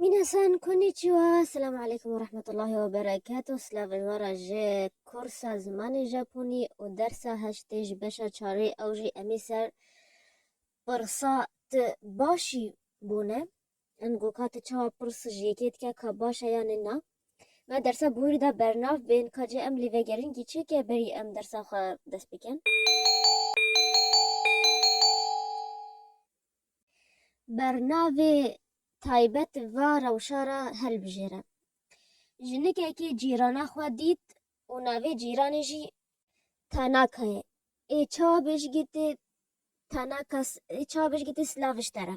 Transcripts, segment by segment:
Minasan konnichiwa, Selamu aleykum û rehmetullahî we bereketû, silavên we re ji kursa zimanê Japonî û dersa heştê ji beşa çarê ew jî em ê ser pirsa tu baş î bûne. Em got ka tu çawa pirs ji yekê dike ka baş e yanê na. Me dersa bûyîr da bernav bên ka cê em lêvegerin kî çêke berî em dersa xwe dest bikin. Bernavê taybet va rewşa re hilbijêre. Jinikekê cîrana xwe dît û navê cîranê jî Tanaka ye. Ê çawa bêjigîtê Tanaka ê çawa bêjigîtê silav ji te re?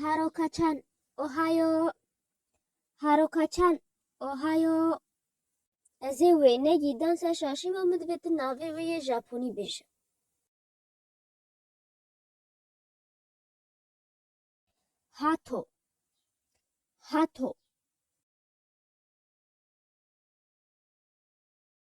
Harokaçan Ohio Harokaçan Ohio Ez ê wê negî dansa şaşî ma min divê tu navê wê yê Japonî bêje. Hato Hato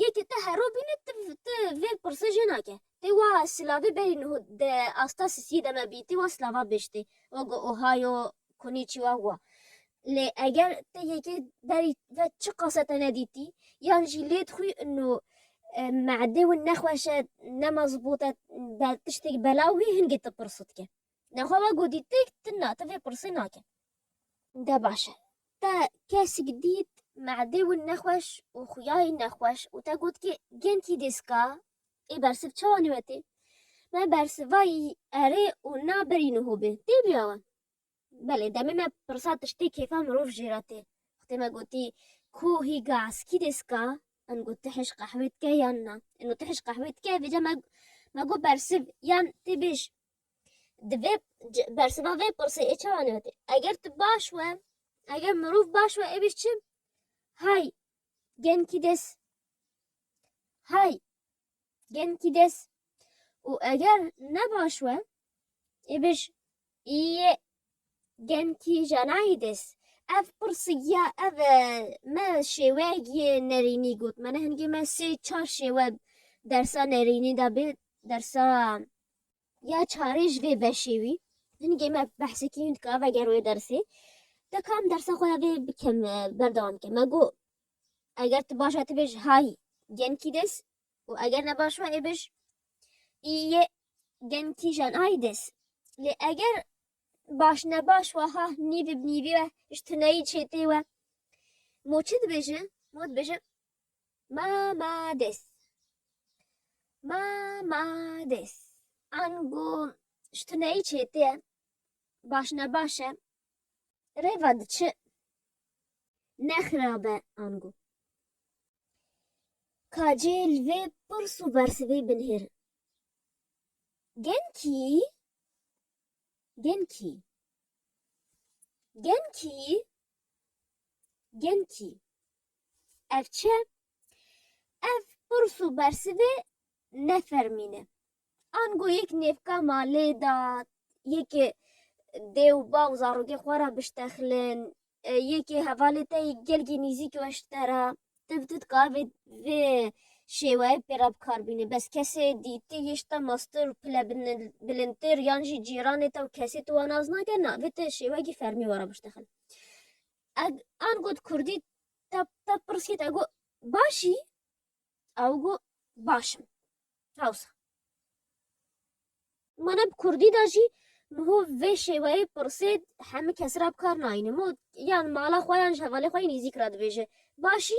Yê ke te hero bîne ti ti vê pirse jê nake. Tê wa silavê berî niho di asta sisiyê de me bî tê wa silava biştê wa go ohayo koniçiwa wa. Lê eger te yekê berî ve çiqase te nedîtî yan jî lêd xwî û meedê win nexweş e nema zibût e be tiştêk belaw wî hingê ti pirse dike. Nexwe wa go dîtik ti na ti vê pirsê nake. De baş e. Te kesik dît me'dê wî nexweş û xuyayî nexweş û te got kê gentî dêska ê bersiv çawa nêwetê? Me bersivayî erê û na berî nuhû bê. Tê bî awe? Belê demê me pirsa tiştê kêfa mirov jê re tê. Xwtê me gotî Ku hî ga eskî dêska? Min got ti hêj qehwê dike yan na? Ino ti hêj qehwê dike? Vêca me me got bersiv yan tê bêj. Di vê bersiva vê pirsê ê çawa newtê? Eger tu baş we, eger mirov baş we êbî çi? Hay genkî des. Hay genkî des. Û eger ne baş we êbî ji yê genkî janayî des. Ev pirsigiya ev e, me şêweyek yê nerînî got. Mane hingê me sê çar şêwe dersa nerînî de bê dersa ya çarê ji vê beşê wî hinîgê me behsekî hûn dika veger wê dersê dika em dersa xwe ya vê bikim e, berdewam bikim me got eger tu baş e tu bêj hay genkî des û eger ne baş we ê bêj ê yê genkî jan hay des lê eger baş ne baş we ha nîvî bi nîvî we ji tuneyî çêtê we mo çi dibêje mo dibêje Ma ma des. Ma ma des. Ango ji tuneyî çêtir e. Baş ne baş e. Rêva diçi. Ne xirab e ango. Ka cê li vê pirs û bersivê binihêrin. Genkî, genkî. Genkî, genkî. Ev çi ye? Ev pirs û bersivê ne fermîn e. Ango yek nêvka ma lê da, yekê dê û bav zarokê xwe re biştexlin, yekê hevalê te yê gelkî nîzîk weş te re. Ti bi dika ev ê vê şêweyê pê re bi kar bînî. Bes kesê dî ti yê ji te meztir û pile bilindtir yan jî cîranê te û kesê tu wan az nake na, vê ti şêwekî fermî were biştexil. An got kurdî te pirsî te got başî? Ew got baş im. Hewsa mane bi kurdî de jî ho vê şêweyê pirsê hemû kes re bi kar nayîne. Yan mala xwe yan ji hevalê xwe yê nîzîk re dibêje başî?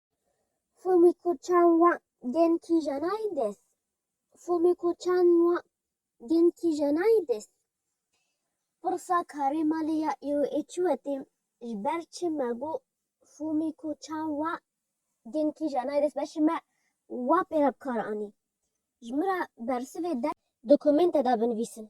Fûmîko çan wa gen kîjanayî des. Fûmîko çan wa gen kîjanayî des. Pirsa karê malê ya îro ê çi wetê? Ji ber çi me got Fûmîko çan wa gen kîjanayî des? Beşê me wa pê re bi kar anî. Ji min re bersivê der. Dokumenta de binivîsin.